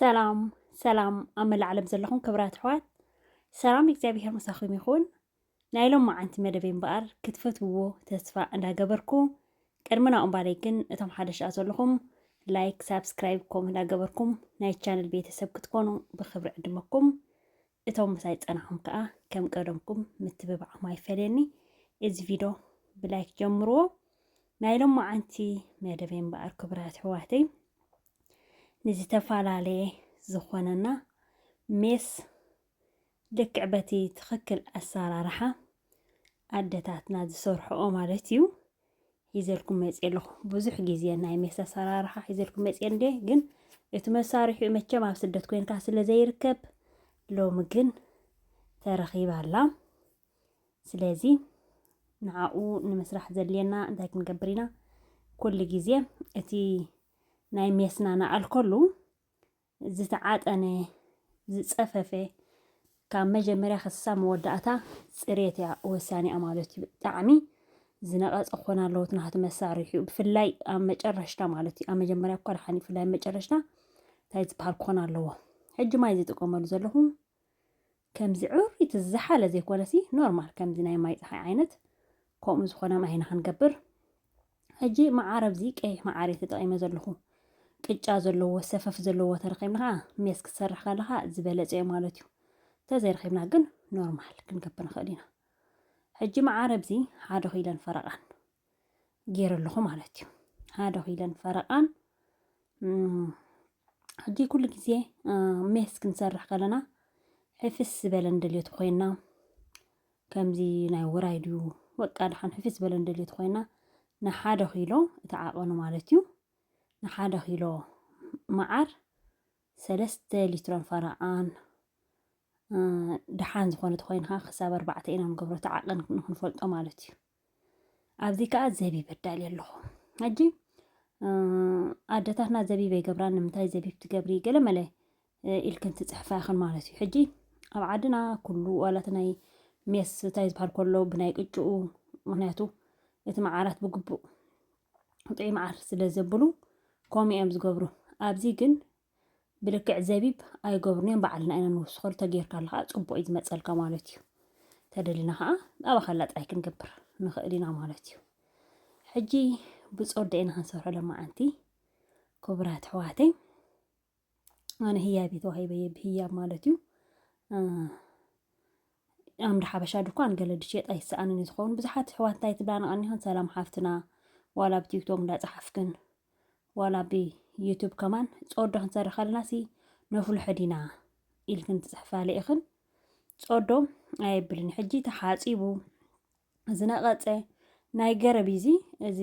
ሰላም ሰላም ኣብ መላእ ዓለም ዘለኹም ክብራት ኣሕዋት ሰላም እግዚኣብሄር ምሳኹም ይኹን ናይ ሎም መዓንቲ መደበይ እምበኣር ክትፈትውዎ ተስፋ እንዳገበርኩ ቅድሚ ናኡ እምባለይ ግን እቶም ሓደ ሽኣ ዘለኹም ላይክ ሳብስክራይብ ኮም እንዳገበርኩም ናይ ቻነል ቤተሰብ ክትኮኑ ብክብሪ ዕድመኩም እቶም ምሳይ ዝጸናኹም ከኣ ከም ቀደምኩም ምትብባዕኩም ኣይፈለየኒ። እዚ ቪዶ ብላይክ ጀምርዎ። ናይ ሎማዓንቲ መደበይ እምበኣር ክቡራት ኣሕዋተይ ንዝተፈላለየ ዝኾነና ሜስ ልክዕ በቲ ትኽክል ኣሰራርሓ ኣደታትና ዝሰርሕኦ ማለት እዩ ሒዘልኩም መፅእ ኣለኹ ብዙሕ ግዜ ናይ ሜስ ኣሰራርሓ ሒዘልኩም መፅእ እንደ ግን እቲ መሳርሒኡ መቸም ኣብ ስደት ኮንካ ስለ ዘይርከብ ሎሚ ግን ተረኺባ ኣላ ስለዚ ንዓኡ ንምስራሕ ዘድልየና እንታይ ክንገብር ኢና ኩሉ ግዜ እቲ ናይ ሜስና ንኣልከሉ ዝተዓጠነ፣ ዝጸፈፈ ካብ መጀመርያ ክሳብ መወዳእታ ጽሬት እያ ወሳኒኣ ማለት እዩ። ብጣዕሚ ዝነቐጸ ክኾን ኣለዎ እቲ ናቱ መሳርሒኡ ብፍላይ ኣብ መጨረሽታ ማለት እዩ። ኣብ መጀመርያ እኳ ደሓን ብፍላይ ኣብ መጨረሽታ እንታይ ዝበሃል ክኾን ኣለዎ። ሕጂ ማይ ዝጥቀመሉ ዘለኹ ከምዚ ዕውር እቲ ዝሓለ ዘይኮነሲ ኖርማል ከምዚ ናይ ማይ ፀሓይ ዓይነት ከምኡ ዝኾነ ማይ ኢና ክንገብር ሕጂ መዓር ኣብዚ ቀይሕ መዓር እየ ተጠቒመ ዘለኹ ቅጫ ዘለዎ ሰፈፍ ዘለዎ ተረኺብና ከዓ ሜስ ክትሰርሕ ከለኻ ዝበለፀ እዩ ማለት እዩ ተዘይረኺብና ግን ኖርማል ክንገብር ንኽእል ኢና ሕጂ መዓር ኣብዚ ሓደ ኪለን ፈረቓን ገይረለኹ ማለት እዩ ሓደ ኪለን ፈረቃን ሕጂ ኩሉ ግዜ ሜስ ክንሰርሕ ከለና ሕፍስ ዝበለ ንደልዮት ኮይና ከምዚ ናይ ውራይ ድዩ በቃ ድሓን ሕፍስ ዝበለ ንደልዮት ኮይና ንሓደ ኪሎ እቲ ዓቐኑ ማለት እዩ ንሓደ ኪሎ መዓር ሰለስተ ሊትሮን ፈረቓን ድሓን ዝኾነት ኮይንካ ክሳብ ኣርባዕተ ኢና ንገብሮ እቲ ዓቐን ንክንፈልጦ ማለት እዩ ኣብዚ ከዓ ዘቢብ ኣዳሊ ኣለኹ ሕጂ ኣደታትና ዘቢብ ይገብራ ንምንታይ ዘቢብ ትገብሪ ገለ መለ ኢልክን ትፅሕፋ ይኽን ማለት እዩ ሕጂ ኣብ ዓድና ኩሉ ዋላት ናይ ሜስ እንታይ ዝበሃል ከሎ ብናይ ቅጭኡ ምክንያቱ እቲ መዓራት ብግቡእ ጥዑይ መዓር ስለ ዘብሉ ከምኡ እዮም ዝገብሩ ኣብዚ ግን ብልክዕ ዘቢብ ኣይገብሩን እዮም ባዕልና ኢና ንውስኸሉ ተጌርካሉ ከዓ ፅቡቅ እዩ ዝመፀልካ ማለት እዩ ተደሊና ከዓ ኣባኻላ ጥራይ ክንገብር ንኽእል ኢና ማለት እዩ ሕጂ ብፆደ ኢና ክንሰርሖ ለማዓንቲ ክቡራት ኣሕዋተይ ኣነ ህያብ ተዋሂበየ ብህያብ ማለት እዩ ኣምር ሓበሻ ድኳን ገለ ድሽየጥ ኣይሰኣንን እዩ ዝኸውን ብዙሓት ኣሕዋት እንታይ ትብላ ንቐኒኸን ሰላም ሓፍትና ዋላ ብ ቲክቶክ እንዳጸሓፍክን ዋላ ብ ዩቱብ ከማን ጾዶ ክንሰርሕ ከለና ሲ ነፍልሖ ዲና ኢልክን ትጽሕፋለ ኢኽን ጾዶ ኣየብልን ሕጂ ተሓጺቡ ዝነቐጸ ናይ ገረብ እዚ እዚ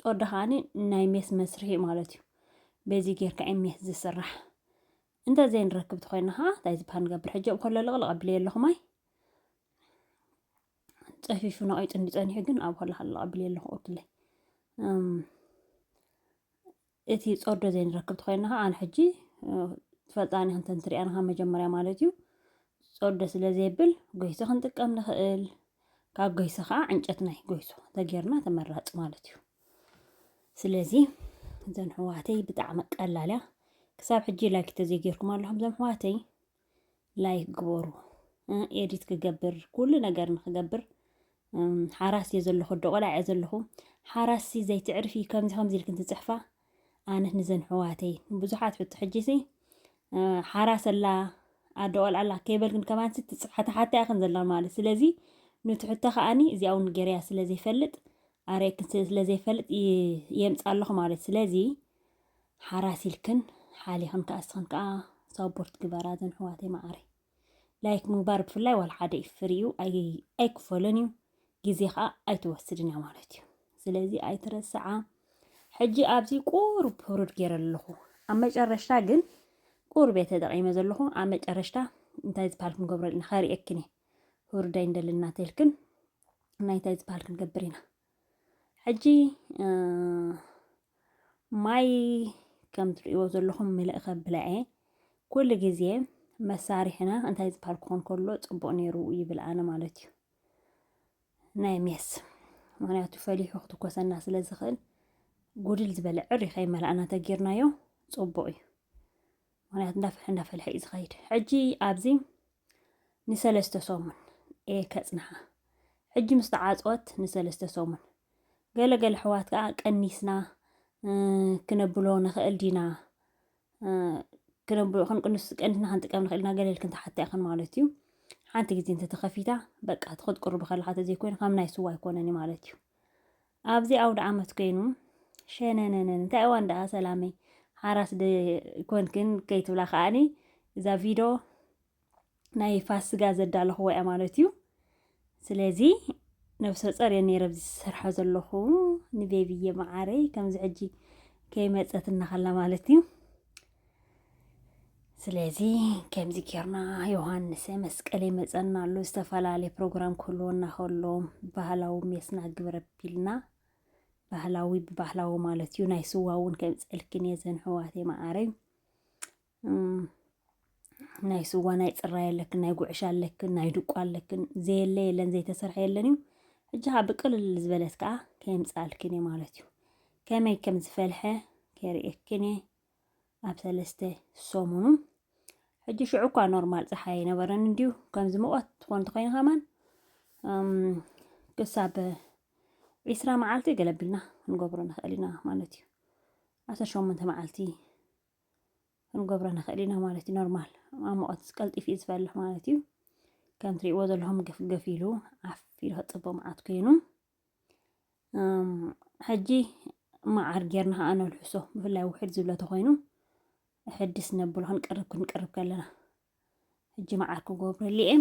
ጾዶ ከዓኒ ናይ ሜስ መስርሒ ማለት እዩ በዚ ጌርካ እዩ ሜስ ዝስራሕ እንተ ዘይንረክብ ተኾይና ኸዓ እንታይ ዝበሃል ንገብር ሕጂ እንከሎ ልቕልቕ ኣቢለዮ ኣለኹ ማይ ፀፊፉ ነቒጡ እንዲ ፀኒሑ ግን ኣብ ሆላ ሃሎ ኣቢለዮ ኣለኹ ኦክለይ እቲ ፆርዶ ዘይንረክብ ተኾይና ኸዓ ኣነ ሕጂ ትፈልጣኒ ክንተ እንትሪኣና ካብ መጀመርያ ማለት እዩ ፆርዶ ስለ ዘይብል ጎይሶ ክንጥቀም ንኽእል ካብ ጎይሶ ኸዓ ዕንጨት ናይ ጎይሶ ተጌርና ተመራፂ ማለት እዩ ስለዚ እዘን ሕዋተይ ብጣዕሚ ቀላል እያ ክሳብ ሕጂ ላይክ ተዘይጌርኩም ኣለኹም ዘም ሕዋተይ ላይክ ግበሩ ኤዲት ክገብር ኩሉ ነገር ንክገብር ሓራስ እየ ዘለኹ ደቆላ እየ ዘለኹ ሓራሲ ዘይትዕርፊ ከምዚ ከምዚ ኢልክን ትፅሕፋ ኣነት ንዘን ሕዋተይ ብዙሓት ሕቶ ሕጂ ሲ ሓራስ ኣላ ኣደቆል ኣላ ከይበልክን ከማንሲ ትፅሓታ ሓታ ያኽን ዘላ ማለት ስለዚ ኑቲ ሕቶ ከዓኒ እዚኣ እውን ገርያ ስለ ዘይፈልጥ ኣረክን ስለዘይፈልጥ የምፃ ኣለኹ ማለት ስለዚ ሓራስ ኢልክን ሓሊኽን ከዓ እስኽን ከዓ ሳፖርት ግበራ ዘን ሕዋተይ መዓረ ላይክ ምግባር ብፍላይ ዋላ ሓደ ፍሪ እዩ ኣይክፈሎን እዩ ግዜ ከዓ ኣይትወስድን እያ ማለት እዩ ስለዚ ኣይትረስዓ ሕጂ ኣብዚ ቁሩብ ህሩድ ገይረ ኣለኹ ኣብ መጨረሽታ ግን ቁሩብ እየ ተጠቂመ ዘለኹ ኣብ መጨረሽታ እንታይ ዝበሃል ክንገብሮ ኣለና ከርእየክን እየ ህሩዳይ እንደለና ተልክን ናይታይ ዝበሃል ክንገብር ኢና ሕጂ ማይ ከም ትርእይዎ ዘለኹም ምልእ ከብለዐ ኩሉ ግዜ መሳርሕና እንታይ ዝበሃል ክኾን ከሎ ፅቡቕ ነይሩ ይብል ኣነ ማለት እዩ ናይ ሜስ ምክንያቱ ፈሊሑ ክትኮሰና ስለ ዝኽእል ጉድል ዝበለ ዕሪ ከይመላእና ተጌርናዮ ፅቡቕ እዩ ምክንያቱ እንዳፍልሐ እንዳፈልሐ እዩ ዝኸይድ ሕጂ ኣብዚ ንሰለስተ ሰሙን እየ ከጽንሓ ሕጂ ምስ ተዓጽወት ንሰለስተ ሰሙን ገለ ገለ ኣሕዋት ከኣ ቀኒስና ክነብሎ ንኽእል ዲና ክነብሎ ክንቅንስ ቀኒስና ክንጥቀም ንኽእል ኢና ገለ ኢልክን ትሓታ ኢኽን ማለት እዩ ሓንቲ ግዜ እንተተኸፊታ በቃ እቲ ክትቅርቡ ከለካ ተዘይኮይኑ ከም ናይ ስዋ ኣይኮነን ማለት እዩ ኣብዚ ኣውደኣመት ኮይኑ ሸነነነን እንታይ እዋን ደኣ ሰላመይ ሓራስ ደ ኮንክን ከይትብላ ከዓኒ እዛ ቪድዮ ናይ ፋስጋ ዘዳለኹዎ እያ ማለት እዩ ስለዚ ነብሰ ጸር እየ ነይረ ኣብዚ ዝሰርሖ ዘለኹ ንቤብዬ መዓረይ ከምዚ ሕጂ ከይመጸት እናኸላ ማለት እዩ ስለዚ ከምዚ ጌርና ዮሃንሰ መስቀል ይመፀና ኣሎ ዝተፈላለየ ፕሮግራም ክህልወና ከሎ ባህላዊ ሜስና ግብረ ቢልና ባህላዊ ብባህላዊ ማለት እዩ ናይ ስዋ እውን ከምፀልክን እየ ዘንሕዋት የማዓረይ ናይ ስዋ ናይ ፅራ የለክን ናይ ጉዕሻ ኣለክን ናይ ድቋ ኣለክን ዘየለ የለን ዘይተሰርሐ የለን እዩ ሕጂ ከዓ ብቅልል ዝበለት ከዓ ከምፃልክን እየ ማለት እዩ ከመይ ከም ዝፈልሐ ከርእየክን እየ ኣብ ሰለስተ ሰሙኑ ሕጂ ሽዑ እኳ ኖርማል ፀሓይ ኣይነበረን እንድዩ ከምዚ ሙቐት ትኾን ተኮይኑ ከማን ክሳብ ዒስራ መዓልቲ ገለ ኣቢልና ክንገብሮ ንኽእል ኢና ማለት እዩ ዓሰርተ ሸሞንተ መዓልቲ ክንገብሮ ንኽእል ኢና ማለት እዩ ኖርማል ኣብ ሙቐት ቀልጢፍ እዩ ዝፈልሕ ማለት እዩ ከም ትሪእዎ ዘለኹም ገፍገፍ ኢሉ ዓፍ ኢሉ ክፅቦ መዓት ኮይኑ ሕጂ መዓር ጌርና ከዓ ነልሕሶ ብፍላይ ውሕድ ዝብለ ተኾይኑ ሕድስ ነብሎ ክንቅርብ ክንቅርብ ከለና ሕጂ መዓር ክገብረሉ እየ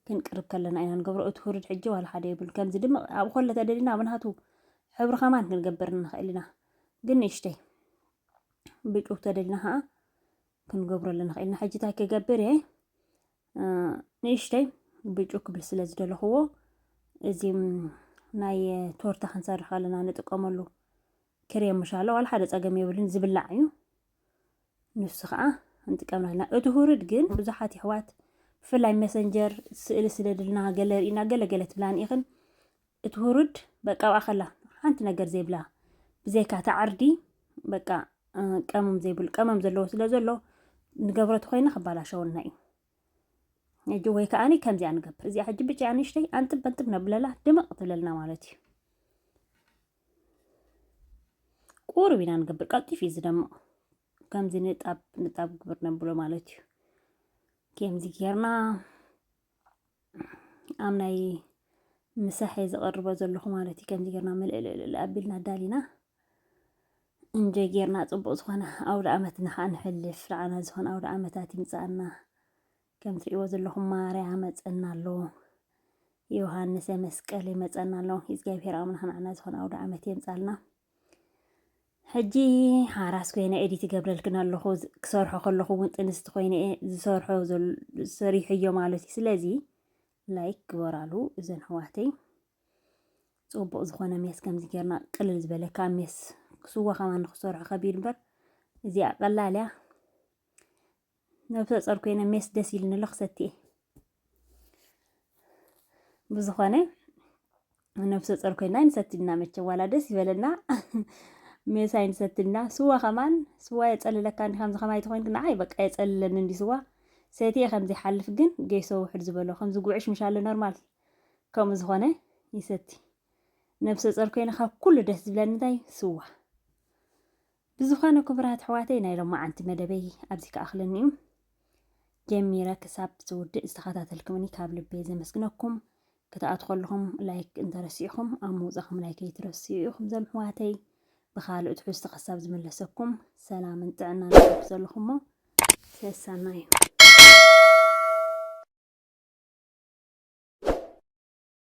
ክንቅርብ ከለና ኢና ንገብሮ እቲ ውርድ ሕጂ ዋላ ሓደ የብሉ ከምዚ ድማ ኣብ ኮለ ተደሊና ኣብ ናቱ ሕብሪ ከማን ክንገብር ንኽእል ኢና ግን ንእሽተይ ብጩብ ተደሊና ከዓ ክንገብረሉ ንኽእል ኢና ሕጂ እንታይ ክገብር እየ ንእሽተይ ብጩ ክብል ስለ ዝደለኽዎ እዚ ናይ ቶርታ ክንሰርሕ ከለና ንጥቀመሉ ክሬም ምሻለ ዋላ ሓደ ፀገም የብልን ዝብላዕ እዩ ንሱ ከዓ ንጥቀምና ኣለና እቲ ሁርድ ግን ብዙሓት ይሕዋት ብፍላይ መሰንጀር ስእሊ ስደድልና ገለ ርኢና ገለገለ ትብላን ኢኽን እቲ ሁሩድ በቃ ኣብኣ ከላ ሓንቲ ነገር ዘይብላ ብዘይካ እታ ዕርዲ በቃ ቀመም ዘይብሉ ቀመም ዘለዎ ስለ ዘሎ ንገብሮ ተኮይና ክባላሸወልና እዩ ሕጂ ወይ ከዓኒ ከምዚኣ ንገብር እዚኣ ሕጂ ብጫ ንእሽተይ ኣንጥብ በንጥብ ነብለላ ድምቕ ትብለልና ማለት እዩ ቁርብ ኢና ንገብር ቀልጢፍ እዩ ዝደምቕ ከምዚ ንጣብ ንጣብ ግብር ነብሎ ማለት እዩ ከምዚ ጌርና ኣብ ናይ ምሳሕ እየ ዝቐርቦ ዘለኹ ማለት እዩ ከምዚ ጌርና ምልእልእልእ ኣቢልና ኣዳሊና እንጀ ጌርና ፅቡቕ ዝኾነ ኣውደ ዓመት ንኸዓ ንሕልፍ ንዓና ዝኾነ ኣውደ ዓመታት ይምፃኣና ከም ትሪእዎ ዘለኹም ማርያ መፀና ኣሎ ዮሃንሰ መስቀል ይመፀና ኣሎ እግዚኣብሔር ኣምላኽ ንዓና ዝኾነ ኣውደ ዓመት የምፃልና ሕጂ ሓራስ ኮይነ ኤዲት ይገብረልክን ኣለኹ ክሰርሖ ከለኹ እውን ጥንስቲ ኮይነ ዝሰርሖ ሰሪሐዮ ማለት እዩ። ስለዚ ላይክ ግበራሉ እዘን ኣሕዋተይ ፅቡቅ ዝኾነ ሜስ ከምዚ ጌርና ቅልል ዝበለ ካብ ሜስ ክስዋ ከማን ንክሰርሖ ከቢድ እምበር እዚኣ ቀላል እያ። ነብሰ ጾር ኮይነ ሜስ ደስ ኢልኒ ኣሎ ክሰቲ ብዝኾነ ነብሰ ጾር ኮይና ይንሰትና መቸ ዋላ ደስ ይበለና ሜሳ ይንሰትና ስዋ ከማን ስዋ የጸልለካ እንዲ ከምዚ ከማይ ተኮይንክ ንዓይ በቃ የጸልለኒ እንዲ ስዋ ሰትየ ከምዚ ሓልፍ ግን ገይሶ ውሕድ ዝበሎ ከምዚ ጉዕሽ ምሻለ ኖርማል ከምኡ ዝኾነ ይሰቲ ነብሰ ጾር ኮይነ ካብ ኩሉ ደስ ዝብለኒ እንታይ ስዋ ብዝኾነ ክቡራት ኣሕዋተይ ናይ ሎማዓንቲ መደበይ ኣብዚ ክኣኽለኒ እዩ ጀሚረ ክሳብ ዝውድእ ዝተኸታተልኩምኒ ካብ ልቤ ዘመስግነኩም ክትኣት ከለኹም ላይክ እንተረሲዕኹም ኣብ ምውፃኹም ላይክ ኣይትረስዑ ኢኹም ዘም ኣሕዋተይ ብካልእ ትሕዝቶ ክሳብ ዝምለሰኩም ሰላምን ጥዕናን ኣብ ዘለኹሞ ሰሰናዩ